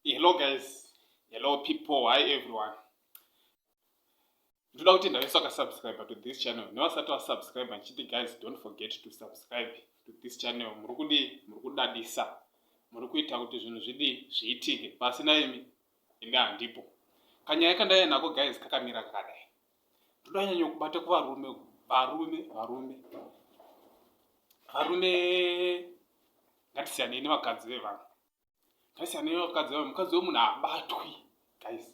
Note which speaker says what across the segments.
Speaker 1: Hello guys, hello people, hi everyone. Ndoda kuti ndave saka subscribe to this channel. Nevasati wa subscribe ndichiti guys don't forget to subscribe to this channel. Muri kudi, muri kudadisa. Muri kuita kuti zvinhu zvidi zviitike. Pasi na imi ende handipo. Kanyaya kandaiya nako guys kakamira kakadai. ndonyanya kubata kuvarume varume varume varume ngatisiyanei nevakadzi vevanhu ngatisiyanei nevakadzi vevanhu mukadzi wemunhu haabatwi guys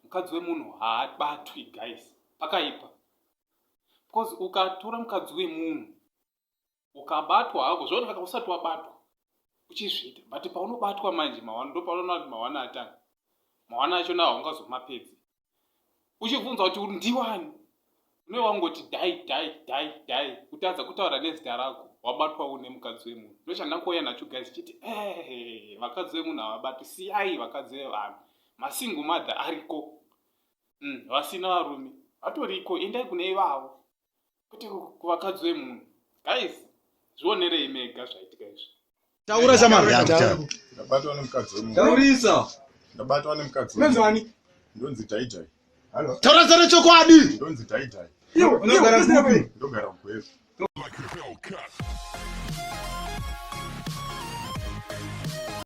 Speaker 1: mukadzi wemunhu haabatwi guys pakaipa because ukatora mukadzi wemunhu ukabatwa hako zvaona saka usati wabatwa uchizviita but paunobatwa manje mawana ndopaunoona kuti mawana atanga mawana acho nawo ungazomapedzi uchibvunza kuti ndiwani une wangoti dai dai dai dai kutadza kutaura nezita rako wabatwa une mukadzi wemunhu ndochandakouya nacho guys chiti ee vakadzi vemunhu havabati siyai vakadzi vevanhu masingo mother ariko mm, vasina varume vatoriko endai kune ivavo kuti kuvakadzi vemunhu guys zvionerei mega zvaitika izvi taura shamandabatwa nemukadzi wemunhutaurisa ndabatwa nemukadzi menzani ndonzi daidai taura zara chokwadi ndonzi daidai ndogara kupi ndogara kugwevu